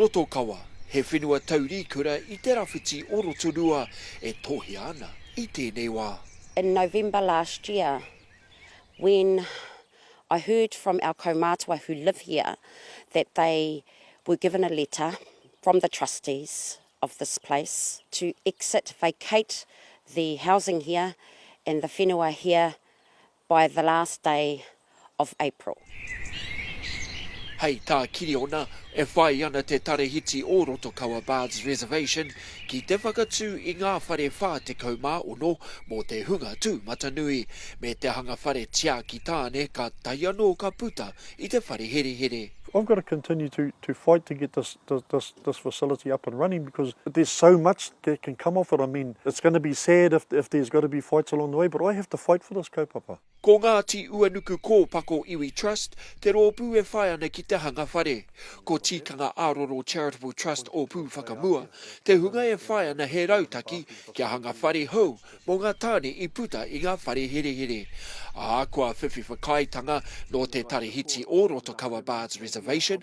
Rotokawa, he whenua taurīkura i te rawhiti o Rotorua e tohea ana i tēnei wā. In November last year when I heard from our kaumātua who live here that they were given a letter from the trustees of this place to exit, vacate the housing here and the whenua here By the last day of April. Hei tā Kiriona, e whai ana te tarahiti o Rotokawa Bards Reservation ki te whakatū i ngā whare 46 mō te hunga tūmatanui, me te hanga whare tiaki tāne ka tae anō ka puta i te whare herehere. I've got to continue to to fight to get this this this facility up and running because there's so much That can come off it, I mean, it's going to be sad if if there's got to be fights along the way, but I have to fight for this kaupapa. Ko Ngāti Uanuku Kōpako Iwi Trust te rōpū e whai ana ki te hanga whare. Ko Tikanga Aroro Charitable Trust Ōpū Whakamua te hunga e whai ana he rautaki kia hanga whare hou mō ngā tāne i puta i ngā whare herehere, ā, kua whiwhi whakaaetanga nō te Tarahiti o Rotokawa Bards Reservation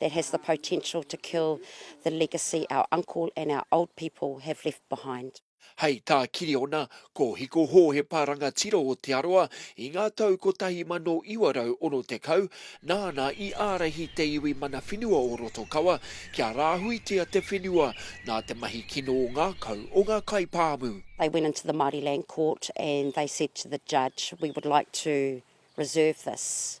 that has the potential to kill the legacy our uncle and our old people have left behind. Hei tā Kiriona, ko Hiko Hō he paranga tiro o Te Arawa i ngā tau 1960 nāna i ārahi te iwi mana whenua o Rotokawa kia rāhuitia te whenua nā te mahi kino ngākau o ngā kaipāmu. They went into the Māori Land Court and they said to the judge, we would like to reserve this.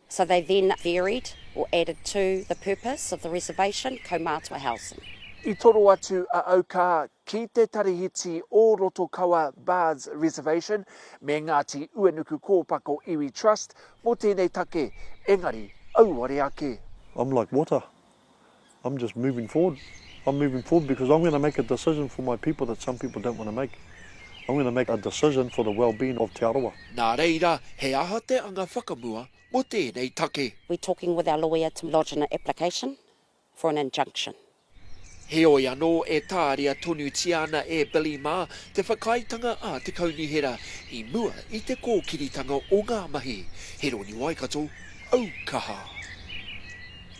So they then varied or added to the purpose of the reservation, kaumātua housing. I toro atu a Aukā ki te Tarihiti o Rotokawa Bards Reservation me Ngāti Uenuku Kōpako Iwi Trust mō tēnei take, engari auare ake. I'm like water, I'm just moving forward. I'm moving forward because I'm going to make a decision for my people that some people don't want to make. I'm going to make a decision for the well-being of Te Arawa. Nā reira, he aha te anga whakamua mō tēnei take? We're talking with our lawyer to lodge an application for an injunction. Heoi anō, e tāria tonutia ana e Billy mā te whakaaetanga a te Kaunihera i mua i te kōkiritanga o ngā mahi. Heroni Waikato, Aukaha.